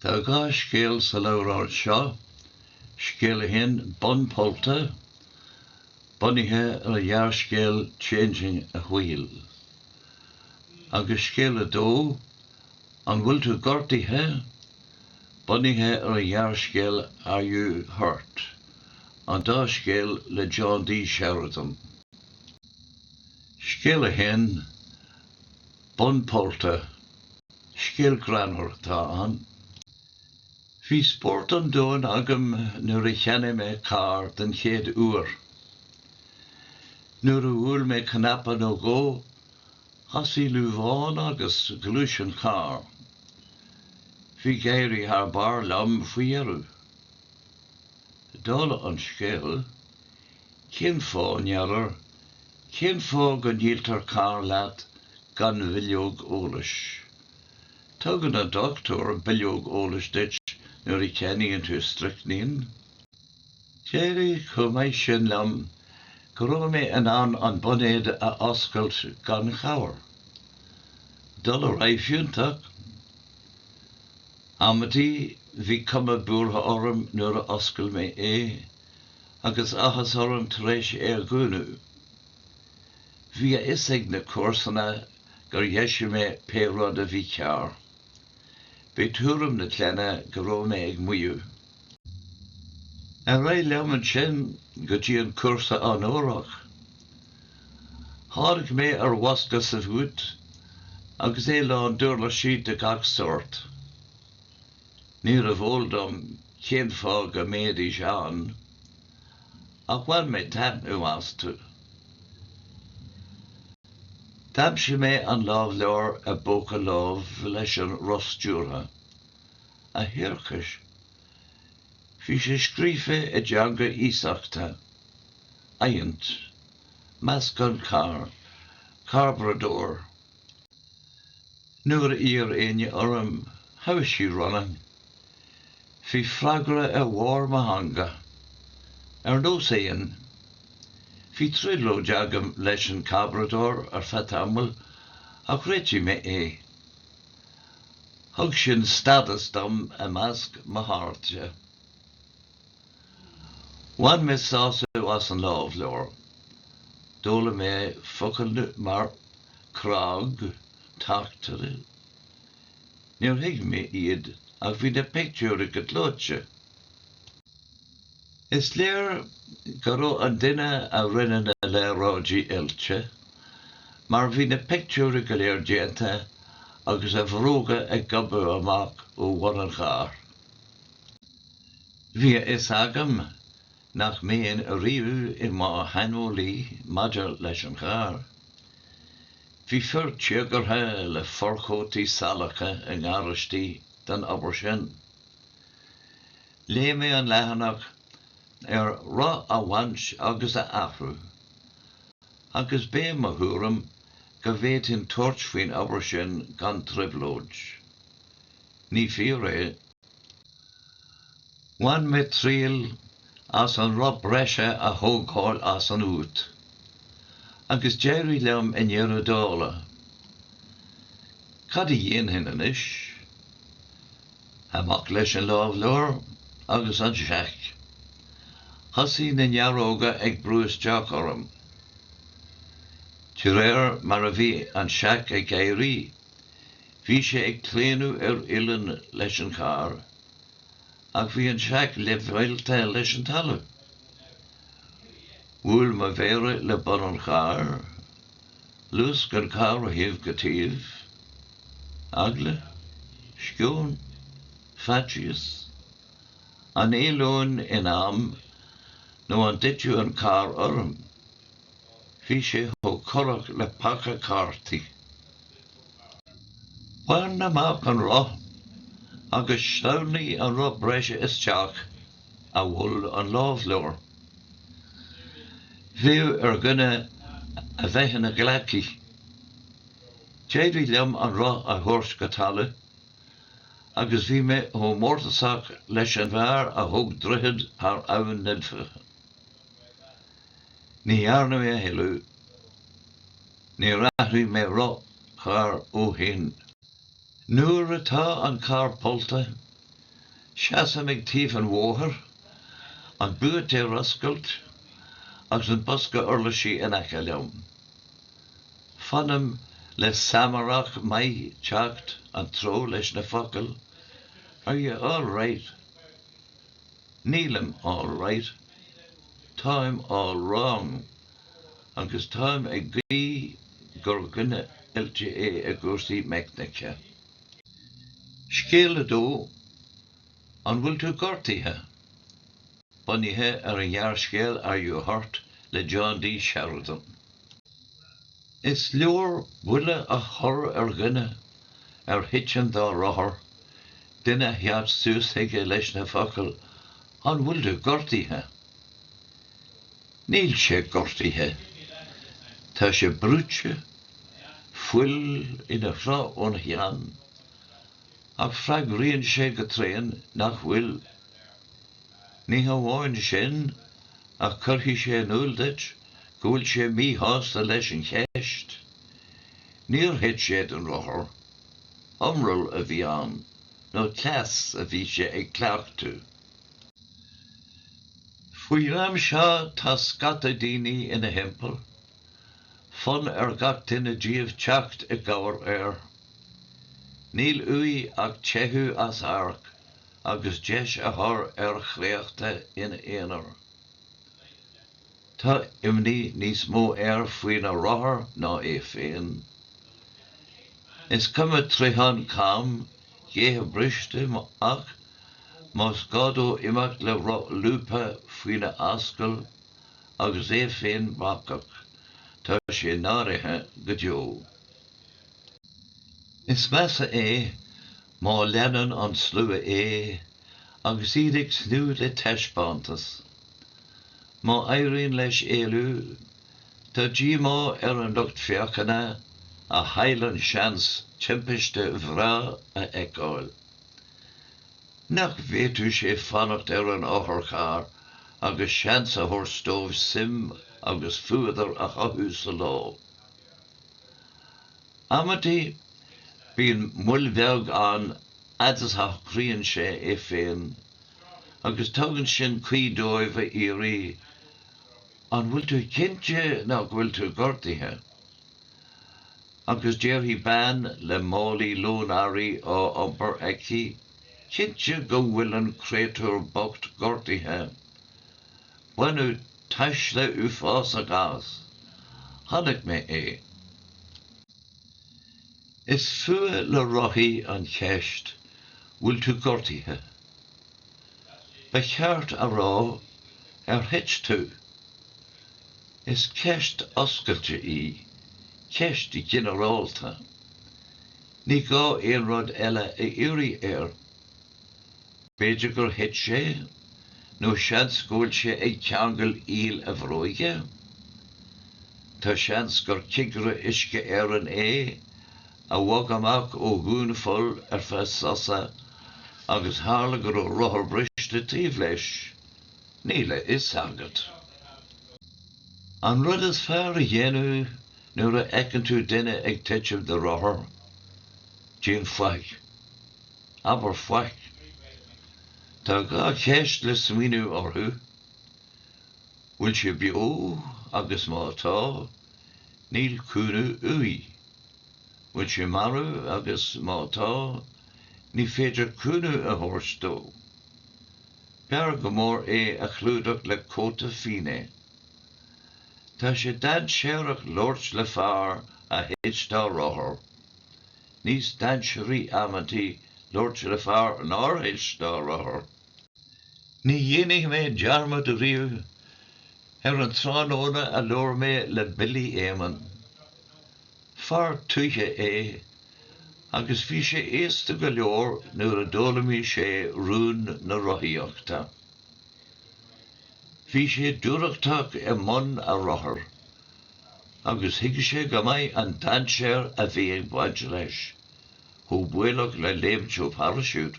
Tá dhá scéal sa leabhrán seo, Scéal a hAon, Bonn Pollta, bunaithe ar an ghearrscéal Changing a Wheel, agus Scéal a Dó, An Bhfuil Tú Gortaithe? bunaithe ar an ghearrscéal Are You Hurt? an dá scéal le John D. Sheridan. Scéal a hAon. Bonn pollta. Scéal greannmhar atá ann. Bhí spórt an domhain agam nuair a cheannaigh mé carr den chéad uair. Nuair a bhuail mé cnaipe nó dhó, thosaigh luamhán agus ghluais an carr. Bhí ag éirí thar barr liom faoi dheireadh. Dála an scéil, cén fáth, n'fheadar, cén fáth go ndíoltar carr leat gan bhileog eolais? Tugann an dochtúir bileog eolais duit nuair a cheannaíonn tú stricnín. D'éirigh chomh maith sin liom go raibh mé in ann an boinéad a oscailt gan chabhair. Dul ar aghaidh fiúntach. Amantaí, bhí cuma buartha orm nuair a oscail mé é, agus áthas orm tar éis é a dhúnadh. Bhí a fhios ag na comharsana gur dheisigh mé pé rud a bhí cearr. B'é tuairim na clainne go raibh mé ag maíomh. Ar aghaidh liom ansin go dtí an cúrsa onórach. Tháinig mé ar bhosca sa bhúit agus é lán d'uirlisí de gach sórt. Níorbh eol dom cén fáth go mbeidís ann, ach bhain mé taitneamh astu. D'aimsigh mé an lámhleabhar i bpóca lámh leis an roth stiúrtha. A thiarcais! Bhí sé scríofa i dteanga iasachta, adhaint, meascán, carbradóir. Nuair a iarr éinne orm how is she running? bhí freagra ar bharr mo theanga. Ar nós éin. Bhí trioblóid agam leis an carbradóir ar feadh tamaill ach réitigh mé é. Thug sin stádas dom i measc mo chairde. Bhain mé sásamh as an lámhleabhar. D'fhoghlaim mé focail mar 'crág', 'tachtaire' Níor thuig mé iad ach bhí na pictiúir go gleoite. Is léir go raibh an duine a rinne na léaráidí oilte mar bhí na pictiúirí go léir déanta agus a bhróga ag gobadh amach ó bhun an chairr. Bhí a fhios agam nach mbeinn riamh i mo shaineolaí maidir leis an charr. Bhí fir téagartha le forchótaí salacha i ngaráistí don obair sin. Léigh mé an leathanach ar roth a bhaint agus a athrú, agus b'é mo thuairim go bhféadfainn tabhairt faoin obair sin gan trioblóid. Ní fíor é. Bhain mé triail as an roth breise a thógáil as an bhúit, agus d'éirigh liom i ndeireadh dála. Cad a dhéanfainn anois? Amach leis an lámhleabhar agus an seac. Thosaigh na nearóga ag brú isteach orm. De réir mar a bhí an seac ag éirí, bhí sé ag claonadh ar uilleann leis an charr, ach bhí an seac leibhéalta leis an talamh. Bhuail mo mhéara le bun an chairr. luasc an carr ó thaobh go taobh, eagla, sceon, faitíos, an éalóinn in am nó an dtitfeadh an carr orm, bhí sé chomh corrach le paca cártaí. Bain amach an roth agus sleamhnaigh an roth breise isteach. a mhol an lámhleabhar. Bheadh ar dhuine a bheith ina ghleacaí. D'éirigh liom an roth a thabhairt go talamh agus bhí mé chomh mórtasach leis an bhfear a thóg droichead thar Abhainn na Life. Ní dhearna mé a thuilleadh, níor athraigh mé roth cairr ó shin. Nuair atá an carr pollta, seasaim ag taobh an bhóthair, an búit ar oscailt agus an bosca uirlisí in aice liom. Fanaim le Samárach maith teacht an treo leis na focail Are you all right? Nílim all right. Táim all wrong. agus táim ag guí gur dhuine oilte é i gcúrsaí meicnice. Scéal 2, An bhfuil tú gortaithe? bunaithe ar an ngearrscéal Are You Hurt? le John D. Sheridan. Is leor buile a chur ar dhuine a thiteann dá rothar, duine a theacht suas chuige leis na focail An bhfuil tú gortaithe? Níl sé gortaithe. Tá sé brúite, fuil ina shruth ón cheann, ach freagraíonn sé go tréan nach bhfuil. Ní hamháin sin, ach cuirfidh sé in iúl duit go bhfuil sé míshásta leis an cheist. Níor thit sé den rothar. Iomrall a bhí ann, nó cleas a bhí sé ag cleachtadh. Faoin am seo tá scata daoine ina thimpeall, fonn ar gach duine díobh teacht i gcabhair air. Níl uaidh ach teitheadh as amharc agus deis a chur ar a chréachta ina aonar. Tá imní níos mó air faoina rothar ná é féin. Is cuma troitheán cam, gathanna briste, ach más gá dó imeacht le roth lúbtha faoina ascaill agus é féin bacach, tá sé náirithe go deo. Is measa é Má leanann an slua é agus iad ag tnúth le taispeántas, má éiríonn leis éalú, tá díomá ar an lucht féachana a chaill an seans timpiste bhreá a fheiceáil. Nach bhféadfadh sé fanacht ar an otharcharr agus seans a thabhairt dóibh suim agus fuadar a chothú sa lá? Amantaí, bíonn moill bheag ann fhad is a shocraíonn sé é féin, agus tugann sin caoi dóibh a iarraidh, 'An bhfuil tú cinnte nach bhfuil tú gortaithe? Agus déarfaidh bean le málaí lán earraí á iompar aici, 'Cinnte go bhfuil an créatúr bocht gortaithe! Baineadh tuisle uafásach as. Chonaic mé é. Is fuath le rothaí an cheist bhfuil tú gortaithe? Ba cheart a rá ar thit tú? Is ceist oscailte í, ceist ghinearálta. Ní gá aon rud eile a iarraidh air. B'fhéidir gur thit sé? Nó seans go bhfuil sé ag ceangal iall a bhróige? Tá seans gur cigire Uisce Éireann é a bhog amach ó dhúnpholl ar feadh sosa agus tharla go raibh rothar briste taobh leis, níl a fhios agat. An rud is fearr a dhéanamh nuair a fheiceann tú duine ag titim de rothar, déan faic. abair faic. Tá dhá cheist le smaoineamh orthu, bhfuil sé beo agus má tá, níl cúnamh uaidh. Bhfuil sé marbh agus má tá, ní féidir cúnamh a thabhairt dó. B'fhearr go mór é a chlúdach le cóta fionnaidh. Tá sé dainséarach labhairt le fear a thit dá rothar. níos dainséaraí amanntaí labhairt le fear nár thit dá rothar. Ní dhéanfaidh mé dearmad ariamh ar an tráthnóna a labhair mé le Billy Eamonn. Fear tuaithe é agus bhí sé aosta go leor nuair a d'fhoghlaimigh sé rún na rothaíochta. Bhí sé dúthrachtach i mbun a rothar. agus thuig sé go maith an dainséar a bhí ag baint leis, chomh baolach le léimt ó pharaisiút.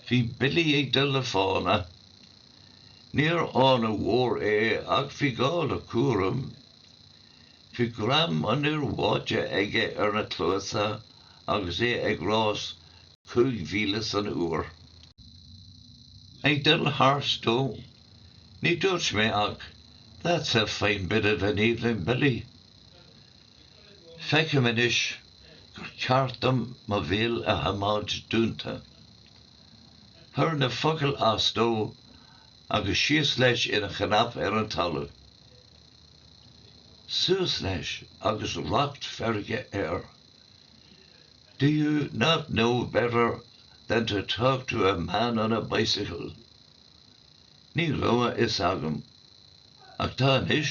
Bhí Billy ag dul le fána. Níorbh fhána mhór é ach bhí gá le cúram. Bhí greim an fhir bháite aige ar na cluasa agus é ag rás cúig mhíle san uair. Ag dul thart dó. Ní dúirt mé ach, That's a fine bit of an evening Billy. Feicim anois gur ceart dom mo bhéal a choimeád dúnta. Chuir na focail as dó agus síos leis ina chnap ar an talamh. Suas leis agus racht feirge air. Do you not know better than to talk to a man on a bicycle? Ní raibh a fhios agam, ach tá anois.